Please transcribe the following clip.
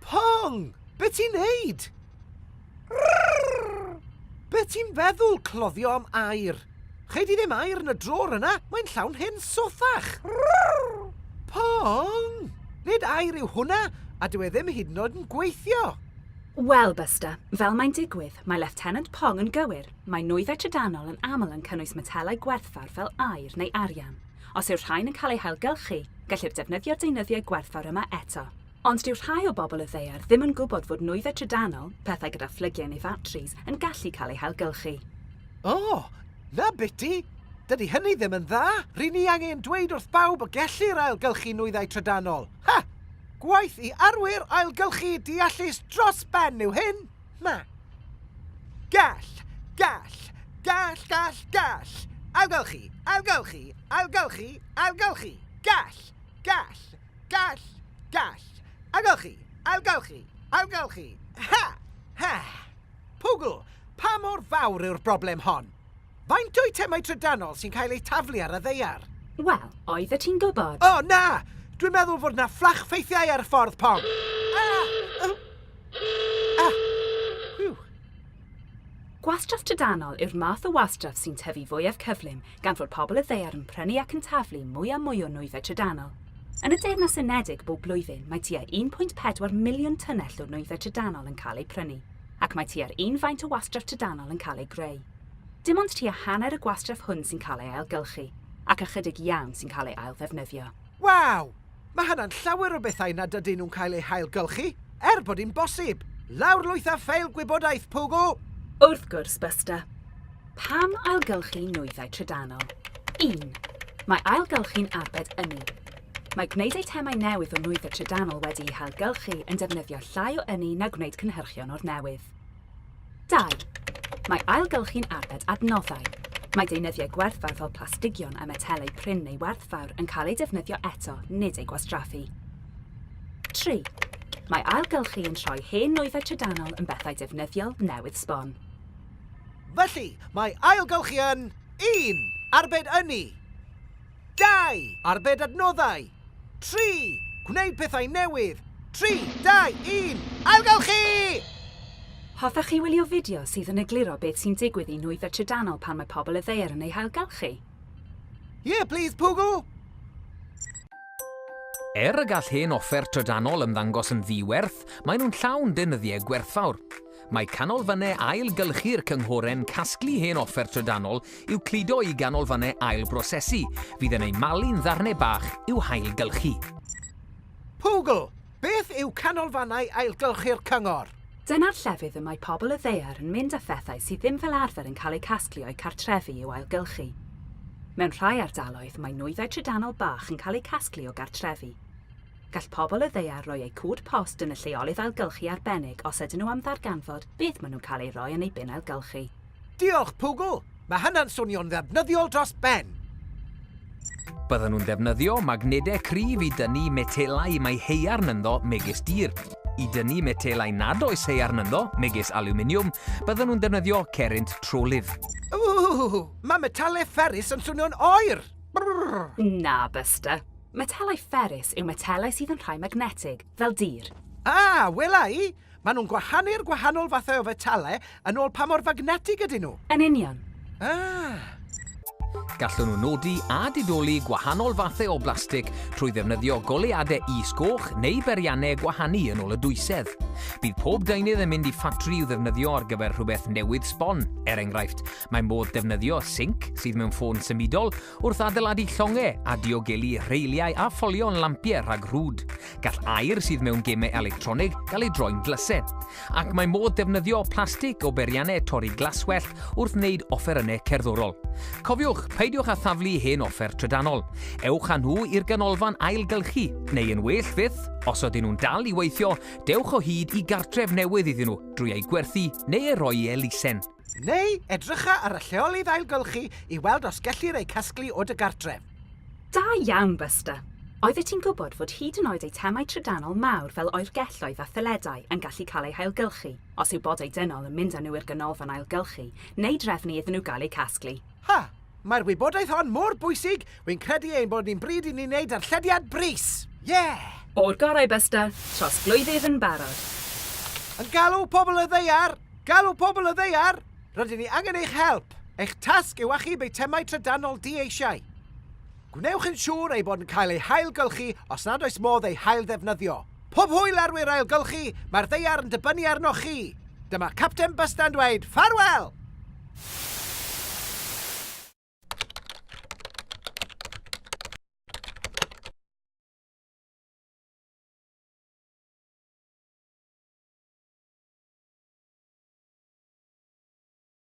Pong! Be ti'n neud? Be ti'n feddwl, cloddio am air? Chei di ddim air yn y drôr yna, mae'n llawn hen sothach. Pong! Nid air yw hwnna, a dyw e ddim hyd yn oed yn gweithio. Wel, Buster, fel mae'n digwydd, mae Lieutenant Pong yn gywir. Mae nwyddau trydanol yn aml yn cynnwys metelau gwerthfawr fel aer neu arian. Os yw'r rhain yn cael eu hailgylchu, gellir defnyddio'r deunyddiau gwerthfawr yma eto. Ond dyw rhai o bobl y ddaear ddim yn gwybod fod nwyddau trydanol, pethau gyda phlygiau neu fatris, yn gallu cael eu hailgylchu. O! 'na biti! Dydy hynny ddim yn dda! Ry'n ni angen dweud wrth bawb y gellir ailgylchu nwyddau trydanol. Ha! Gwaith i arwyr ailgylchu deallus dros ben yw hyn! Na. Gall, gall, gall, gall, gall. Ailgylchu, ailgylchu, ailgylchu, ailgylchu. Gall, gall, gall, gall. Ailgylchu, ailgylchu, ailgylchu. Ha! Ha! Pwgl, pa mor fawr yw'r broblem hon? Faint o eitemau trydanol sy'n cael eu taflu ar y ddeiar? Wel, oeddet ti'n gwybod. O, na! Dwi'n meddwl fod na fflach ffeithiau ar y ffordd, Pom. Ah! Ah! Whew. Gwastraff trydanol yw'r math o wastraff sy'n tyfu fwyaf cyflym gan fod pobl y ddeiar yn prynu ac yn taflu mwy a mwy o nwyddau trydanol. Yn y Deyrnas Unedig bob blwyddyn mae tua 1.4 miliwn tunnell o nwyddau trydanol yn cael eu prynu, ac mae tua'r un faint o wastraff trydanol yn cael ei greu. Dim ond tua hanner y gwastraff hwn sy'n cael ei ailgylchu, ac ychydig iawn sy'n cael ei ailddefnyddio. Waw! Mae hynna'n llawer o bethau nad ydyn nhw'n cael eu hailgylchu, er bod hi'n bosib! Lawrlwytha ffeil gwybodaeth, Pogo! Wrth gwrs, Buster. Pam ailgylchu nwyddau trydanol? Un, mae ailgylchu'n arbed ynni. Mae gwneud eitemau newydd o nwyddau trydanol wedi'u hailgylchu yn defnyddio llai o ynni na gwneud cynhyrchion o'r newydd. Dau, Mae ailgylchu'n arbed adnoddau. Mae deunyddiau gwerthfawr fel plastigion a metelau prin neu werthfawr yn cael eu defnyddio eto, nid eu gwastraffu. Tri, Mae ailgylchu yn troi hen nwyddau trydanol yn bethau defnyddiol, newydd sbon. Felly, mae ailgylchu yn, un, arbed ynni. Dau, arbed adnoddau. Tri! Gwneud pethau newydd! Tri, dau, un, ailgylchu! Hoffech chi wylio fideo sydd yn egluro beth sy'n digwydd i nwyddau trydanol pan mae pobl y ddaear yn eu hailgylchu? Yeah please Poogle! Er y gall hen offer trydanol ymddangos yn ddi-werth, maen nhw'n llawn deunyddiau gwerthfawr. Mae canolfannau ail-gylchu'r cynghoren casglu hen offer trydanol i'w cludo i ganolfannau ail-brosesu, fydd yn eu malu'n ddarnau bach i'w hail-gylchu. Pwgl! Beth yw canolfannau ail-gylchu'r cyngor? Dyna'r llefydd y mae pobl y ddaear yn mynd â phethau sydd ddim fel arfer yn cael eu casglu o'u cartrefi i'w ail-gylchu. Mewn rhai ardaloedd, mae nwyddau trydanol bach yn cael eu casglu o gartrefi. Gall pobl y ddaear roi eu cod post yn y lleolydd ailgylchu arbennig os ydyn nhw am ddarganfod beth maen nhw'n cael ei roi yn eu bin ailgylchu. Diolch, Pwgl! Mae hynna'n swnio'n ddefnyddiol dros ben! Byddan nhw'n defnyddio magnedau cryf i dynnu metelau mae haearn ynddo megis dir. I dynnu metelau nad oes haearn ynddo, megis alwminiwm, byddan nhw'n defnyddio cerrynt trolydd. Ww! Mae metalau fferrus yn swnio'n oer! Brrr! Na, Buster. Metelau fferrus yw metelau sydd yn rhai magnetig, fel dir. A, wela i! Maen nhw'n gwahanu'r gwahanol fathau o fetelau yn ôl pa mor fagnetig ydyn nhw. Yn union. Ah! Gallwn nhw nodi a didoli gwahanol fathau o blastig trwy ddefnyddio goleuadau is-goch neu beriannau gwahanu yn ôl y dwysedd. Bydd pob deunydd yn mynd i ffatri i'w ddefnyddio ar gyfer rhywbeth newydd sbon. Er enghraifft, mae modd defnyddio sinc sydd mewn ffôn symudol Wrth adeiladu llongau a diogelu rheiliau a pholio'n lampiau rhag rhwd, gall aer sydd mewn gemau electronig gael ei droi'n dlysau. Ac mae modd defnyddio plastig o beriannau torri glaswellt wrth wneud offerynnau cerddorol. Cofiwch, peidiwch â thaflu hen offer trydanol. Ewch â nhw i'r ganolfan ailgylchu, neu yn well fyth, os ydyn nhw'n dal i weithio, dewch o hyd i gartref newydd iddyn nhw drwy eu gwerthu neu eu rhoi i elusen. Neu edrycha ar y lleolydd ailgylchu i weld os gellir eu casglu o dy gartref. Da iawn, Buster! Oeddet ti'n gwybod fod hyd yn oed eitemau trydanol mawr fel oergelloedd a thyledau yn gallu cael eu hailgylchu os yw bodau dynol yn mynd â nhw i'r ganolfan ailgylchu neu drefnu iddyn nhw gael eu casglu? Ha! Mae'r wybodaeth hon mor bwysig, wy'n credu ein bod ni'n bryd i ni wneud darllediad brys! Yeah! O'r gorau Buster, trosglwyddydd yn barod. Yn galw pobl y ddaear! Galw pobl y ddaear! Rydyn ni angen eich help! Eich tasg yw achub eitemau trydanol di-eisiau. Gwnewch yn siŵr ei bod yn cael ei hailgylchu os nad oes modd ei hailddefnyddio. Pob hwyl ar wir ailgylchu, mae'r ddaear yn dibynnu arnoch chi! Dyma Capten Bysta yn dweud ffarwel!